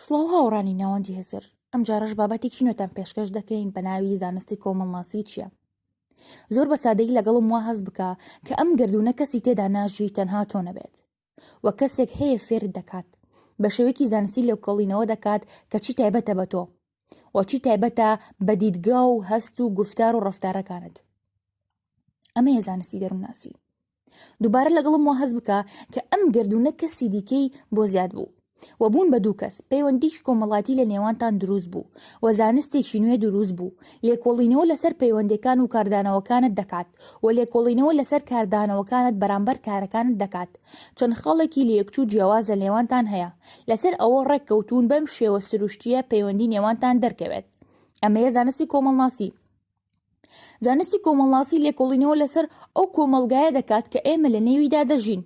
سڵاو هاوڕانی ناوەندی هزر ئەم جارەش بابەتێکی نوێتان پێشکەش دەکەین بە ناوی زانستی کۆمەڵناسی چییە زۆر بە سادەی لەگەڵم وا هەز بکە کە ئەم گردونە کەسی تێدا ناژی تەنها تۆ نەبێت و کەسێک هەیە فێر دەکات بە شێوەیەکی زانستی لێوکەڵینەوە دەکات کە چی تایبەتە بە تۆ و چی تایبەتە بە دیدگا و هەست و گفتار و ڕفتارەکانت ئەمەیە زانستی دەروونناسی دووبارە لەگەڵم وا هەز بکە کە ئەم گردونە کەسی دیکەی بۆ زیاد بوو و بوون بە دوو کەس پەیوەندیش کۆمەڵاتی لە نێوانتان دروست بوو و زانستێکی نوێ دروست بوو لێکۆڵینەوە لەسەر پەیوەندەکان و کاردانەوەکانت دەکات و لێکۆڵینەوە لەسەر کاردانەوەکانت بەرامبەر کارەکانت دەکات چەند خاڵێکی لەیەکچوو جیاواز لە نێوانتان هەیە لەسەر ئەوە ڕێک کەوتون بەم شێوە سروشتیە پەیوەندی نێوانتان دەرکەوێت ئەمەیە زانستی کۆمەڵناسی زانستی کۆمەڵناسی لێکۆڵینەوە لەسەر ئەو کۆمەلگایە دەکات کە ئێمە لە نێویدا دەژین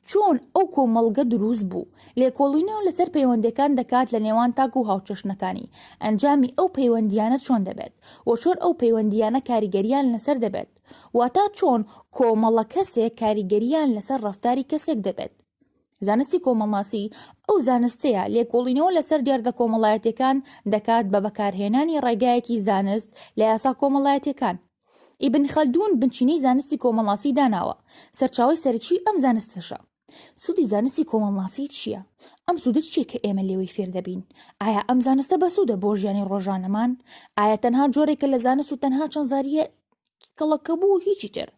چۆن ئەو کۆمەلگە دروست بوو لێکۆڵینەوە لەسەر پەیوەندەکان دەکات لە نێوان تاک و هاوچەشنەکانی ئەنجامی ئەو پەیوەندیانە چۆن دەبێت و چۆن ئەو پەیوەندیانە کاریگەریان لەسەر دەبێت واتا چۆن کۆمەڵە کەسێک کاریگەریان لەسەر ڕفتاری کەسێک دەبێت زانستی کۆمەڵناسی ئەو زانستەیە لێکۆڵینەوە لەسەر دێڕدە کۆمەڵایەتیەکان دەکات بە بەکارهێنانی ڕێگایەکی زانست لە یاسا کۆمەڵایەتیەکان. ئیبن خەلدون بنچینەی زانستی کۆمەڵناسی داناوە، سەرچاوەی سەرەکیی ئەم زانستەشە. سوودی زانستی کۆمەڵناسی چییە؟ ئەم سوودە چییە کە ئێمە لێوەی فێر دەبین؟ ئایا ئەم زانستە بەسوودە بۆ ژیانی ڕۆژانەمان؟ ئایا تەنها جۆرێکە لە زانست و تەنها چەند زارییە کڵەکەبوو و هیچی تر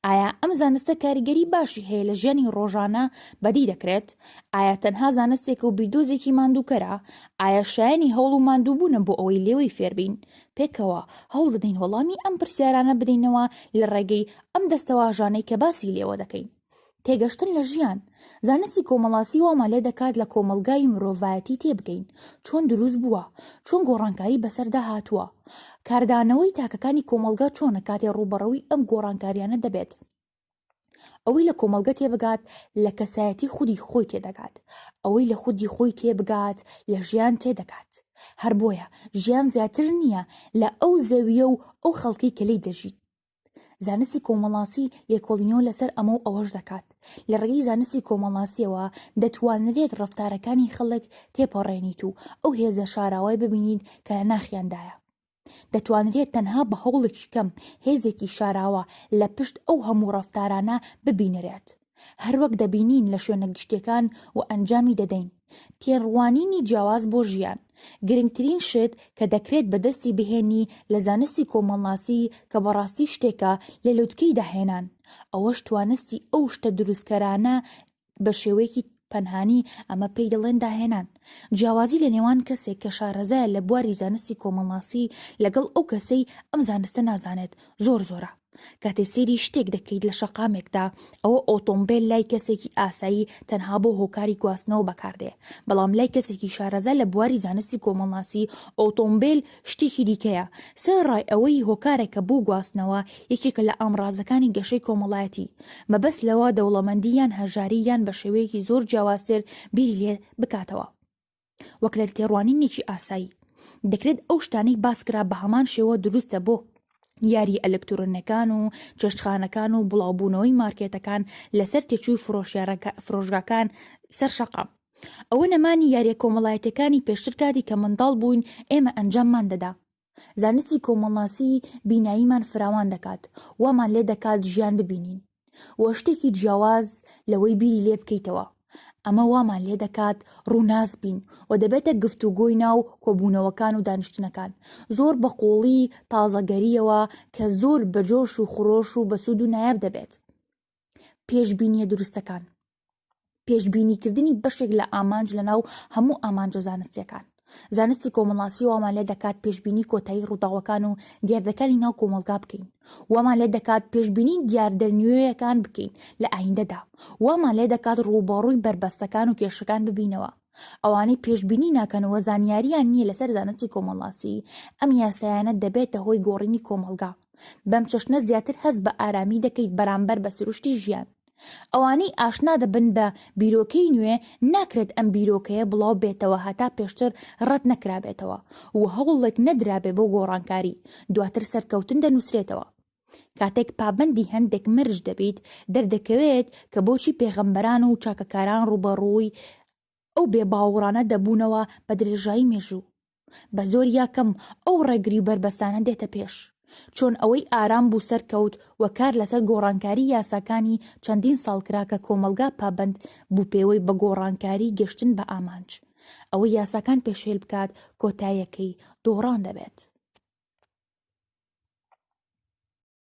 ئایا ئەم زانستە کاریگەری باشی هەیە لە ژیانی ڕۆژانە بەدی دەکرێت ئایا تەنها زانستێک و بیردۆزێکی ماندووکەرە ئایا شایانی هەوڵ و ماندووبوونە بۆ ئەوەی لێوەی فێربین پێکەوە هەوڵ دەدەین وەڵامی ئەم پرسیارانە بدەینەوە لە ڕێگەی ئەم دەستەواژانەی کە باسی لێوە دەکەین تێگەشتن لە ژیان، زانستی کۆمەڵاسی وامان لێ دەکات لە کۆمەڵگای مرۆڤایەتی تێبگەین، چۆن دروست بووە، چۆن گۆڕانکاری بەسەردا هاتووە، کاردانەوەی تاکەکانی کۆمەڵگە چۆنە کاتێ ڕووبەڕووی ئەم گۆڕانکاریانە دەبێت، ئەوەی لە کۆمەڵگە تێبگات لە کەسایەتی خودی خۆی تێدەگات، ئەوەی لە خودی خۆی تێبگات لە ژیان تێدەگات، هەر بۆیە ژیان زیاتر نییە لە ئەو زەوییە و ئەو خەڵکەی کە لێی دەژیت، زانستی کۆمەڵاسی لێکۆڵینەوە لەسەر ئەمە و ئەوەش دەکات لە ڕێگەی زانستی کۆمەڵاسیەوە دەتوانرێت ڕەفتارەکانی خەڵک تێپەڕێنیت و ئەو هێزە شاراوای ببینیت کە لە ناخیاندایە دەتوانرێت تەنها بە هەوڵێکی کەم هێزێکی شاراوە لە پشت ئەو هەموو ڕەفتارانە ببینرێت هەروەک دەبینین لە شوێنە گشتیەکان و ئەنجامی دەدەین. تێڕوانینی جیاواز بۆ ژیان، گرنگترین شت کە دەکرێت بەدەستی بهێنی لە زانستی کۆمەڵناسی کە بەڕاستی شتێکە لە لوتکەی داهێنان، ئەوەش توانستی ئەو شتە دروستکەرانە بە شێوەیەکی پەنهانی ئەمە پێی دەڵێن داهێنان، جیاوازی لە نێوان کەسێک کە شارەزایە لە بواری زانستی کۆمەڵناسی لەگەڵ ئەو کەسەی ئەم زانستە نازانێت زۆر زۆرە. کاتێ سەیری شتێک دەکەیت لە شەقامێکدا، ئەوە ئۆتۆمبێل لای کەسێکی ئاسایی تەنها بۆ هۆکاری گواستنەوە بەکاردێ، بەڵام لای کەسێکی شارەزا لە بواری زانستی کۆمەڵناسی ئۆتۆمبێل شتێکی دیکەیە، سەر ڕای ئەوەی هۆکارێکە بۆ گواستنەوە، یەکێکە لە ئامڕازەکانی گەشەی کۆمەڵایەتی، مەبەست لەوە دەوڵەمەندی یان هەژاری یان بە شێوەیەکی زۆر جیاوازتر بیری لێ بکاتەوە. وەک لە تێڕوانینێکی ئاسایی دەکرێت ئەو شتانەی باسکرا بە هەمان شێوە دروستە بۆ یاری ئەلکترۆنەکان و چێشتخانەکان و بڵاوبوونەوەی مارکێتەکان لەسەر تێچووی فرۆشگاکان سەر شەقام ئەوە نەمانی یاریە کۆمەڵایەتەکانی پێشتر کاتی کە منداڵ بووین ئێمە ئەنجاممان دەدا زانستی کۆمەڵناسی بیناییمان فراوان دەکات، وامان لێ دەکات ژیان ببینین وە شتێکی جیاواز لەوەی بیری لێ بکەیتەوە، ئەمە وامان لێ دەکات ڕووناس بین و دەبێتە گفتوگۆی ناو کۆبوونەوەکان و دانیشتنەکان زۆر بە قووڵی تازەگەرییەوە کە زۆر بە جۆش و خرۆش و بەسوود و نایاب دەبێت پێشبینییە دروستەکان. پێشببینیکردنی بەشێک لە ئامانج لە ناو هەموو ئامانجە زانستیەکان زانستی کۆمەڵاسی وامان لێ دەکات پێشببینی کۆتایی ڕووداوەکان و دیاردەکانی ناو کۆمەلگا بکەین وامان لێ دەکات پێشببینی دیاردە نوێیەکان بکەین لە ئایندەدا وامان لێ دەکات ڕووبەڕووی بەربەستەکان و کێشەکان ببینەوە ئەوانەی پێشببینی ناکەنەوە زانیاریان نییە لەسەر زانستی کۆمەڵاسی ئەم یاسایانە دەبێتە هۆی گۆڕینی کۆمەلگا بەم چەشنە زیاتر هەست بە ئارامی دەکەیت بەرامبەر بە سروشتی ژیان ئەوانەی ئاشنا دەبن بە بیرۆکەی نوێ ناکرێت ئەم بیرۆکەیە بڵاو بێتەوە هەتا پێشتر ڕەت نەکرابێتەوە و هەوڵێک نەدرابێ بۆ گۆڕانکاری، دواتر سەرکەوتن دەنووسرێتەوە. کاتێک پابەندی هەندێک مەرج دەبیت، دەردەکەوێت کە بۆچی پێغەمبەران و چاکەکاران ڕووبەڕووی ئەو بێباوڕانە دەبوونەوە بە درێژایی مێژوو. بە زۆر یا کەم ئەو ڕێگری و بەربەستانە دێتە پێش. چۆن ئەوەی ئارام بوو سەرکەوت و کار لەسەر گۆڕانکاری یاساکانی چەندین ساڵ کرا کە کۆمەڵگا پابەند بوو پێوەی بە گۆڕانکاری گەشتن بە ئامانج. ئەوەی یاساکان پێشێل بکات کۆتایەکەی دۆڕان دەبێت.